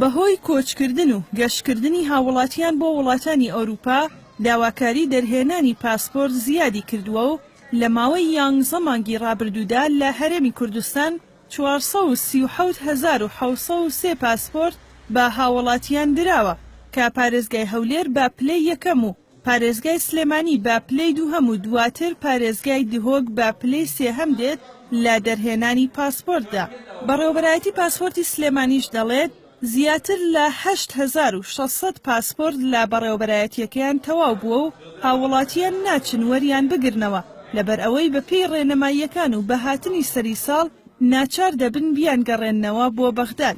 بەهۆی کۆچکردن و گەشتکردنی هاووڵاتیان بۆ وڵاتانی ئەوروپا، داواکاری دەرهێنانی پاسپۆرت زیادی کردووە و لە ماوەی یانزە مانگی رابردوودا لە هەرێمی کوردستان چوار سەد و سی و حەوت هەزار و حەوت سەد و سێ پاسپۆرت بە هاووڵاتیان دراوە کە پارێزگای هەولێر بە پلەی یەکەم و پارێزگای سلێمانی بە پلەی دووهەم و دواتر پارێزگای دهۆک بە پلەی سێهەم دێت لە دەرهێنانی پاسپۆرتدا. بەڕێوەبەرایەتی پاسپۆرتی سلێمانیش دەڵێت، زیاتر لە هەشت هەزار و شەش سەد پاسپۆرت لە بەڕێوەبەرایەتییەکەیان تەواو بووە و هاووڵاتییان ناچن وەریان بگرنەوە، لەبەرئەوەی بەپێی ڕێنماییەکان و بە هاتنی سەری ساڵ ناچار دەبن بیانگەڕێننەوە بۆ بەغداد.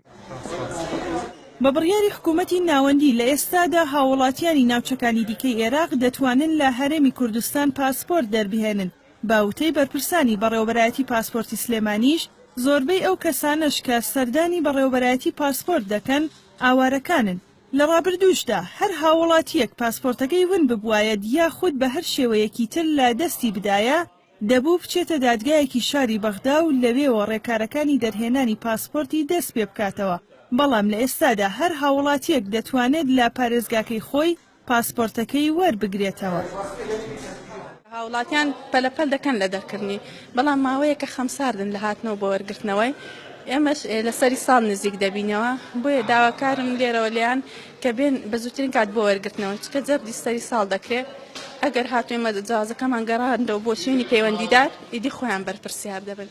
بە بڕیاری حکوومەتی ناوەندی، لە ئێستادا هاووڵاتییانی ناوچەکانی دیکەی ئێراق دەتوانن لە هەرێمی کوردستان پاسپۆرت دەربهێنن، بە وتەی بەرپرسانی بەڕێوەبەرایەتی پاسپۆرتی سلێمانیش، زۆربەی ئەو کەسانەش کە سەردانی بەڕێوەبەرایەتی پاسپۆرت دەکەن، ئاوارەکانن. لە ڕابردووشدا هەر هاووڵاتییەک پاسپۆرتەکەی ون ببوایەد یاخود بە هەر شێوەیەکی تر لە دەستی بدایە، دەبوو بچێتە دادگایەکی شاری بەغدا و لەوێوە ڕێکارەکانی دەرهێنانی پاسپۆرتی دەست پێ بکاتەوە، بەڵام لە ئێستادا هەر هاووڵاتییەک دەتوانێت لە پارێزگاکەی خۆی پاسپۆرتەکەی وەربگرێتەوە. هاووڵاتیان پەلە پەل دەکەن لە دەرکردنی، بەڵام ماوەیەکە خەمساردن لە هاتنەوە بۆ وەرگرتنەوەی، ئێمەش لە سەری ساڵ نزیک دەبینەوە، بۆیە داواکارم لێرەوە لێیان کە بێن بە زووترین کات بۆ وەرگرتنەوە چکە جەبدی سەری ساڵ دەکرێ ئەگەر هاتووی مەدە جوازەکەمان گەڕاندەوە بۆ شوێنی پەیوەندیدار ئیدی خۆیان بەرپرسیار دەبن.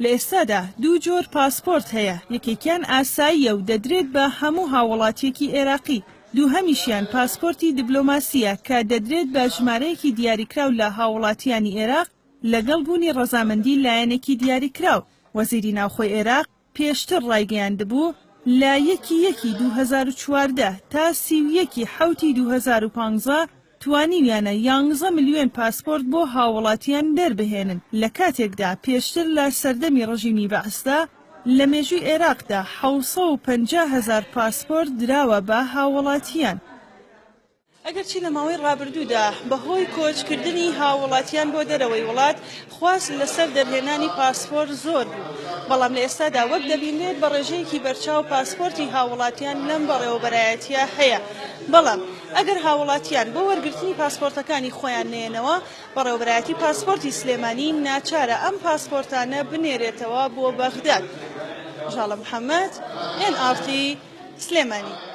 لە ئێستادا دوو جۆر پاسپۆرت هەیە، یەکێکیان ئاساییە و دەدرێت بە هەموو هاووڵاتییەکی ئێراقی، دووهەمیشیان پاسپۆرتی دبلۆماسییە کە دەدرێت بە ژمارەیەکی دیاریکراو لە هاووڵاتییانی ئێراق لەگەڵ بوونی ڕەزامەندی لایەنێکی دیاریکراو. وەزیری ناوخۆی ئێراق، پێشتر ڕایگەیاندبوو، لە یەکی یەکی دوو هەزار و چواردە تا سی و یەکی حەوتی دوو هەزار و پانزە توانیویانە یانزە ملیۆن پاسپۆرت بۆ هاووڵاتییان دەربهێنن، لە کاتێکدا پێشتر لە سەردەمی ڕژیمی بەعسدا لە مێژووی عێراقدا حەوت سەد و پەنجا هەزار پاسپۆرت دراوە بە هاووڵاتییان. ئەگەرچی لە ماوەی ڕابردوودا بەهۆی کۆچکردنی هاووڵاتیان بۆ دەرەوەی وڵات خواست لەسەر دەرهێنانی پاسپۆرت زۆر بوو، بەڵام لە ئێستادا وەک دەبینرێت بە ڕێژەیەکی بەرچاو پاسپۆرتی هاووڵاتیان لەم بەڕێوەبەرایەتییە هەیە، بەڵام ئەگەر هاووڵاتیان بۆ وەرگرتنی پاسپۆرتەکانی خۆیان نەیەنەوە، بەڕێوەبەرایەتی پاسپۆرتی سلێمانی ناچارە ئەم پاسپۆرتانە بنێرێتەوە بۆ بەغداد. ژاڵە محەمەد، ئێن ئاڕ تی، سلێمانی.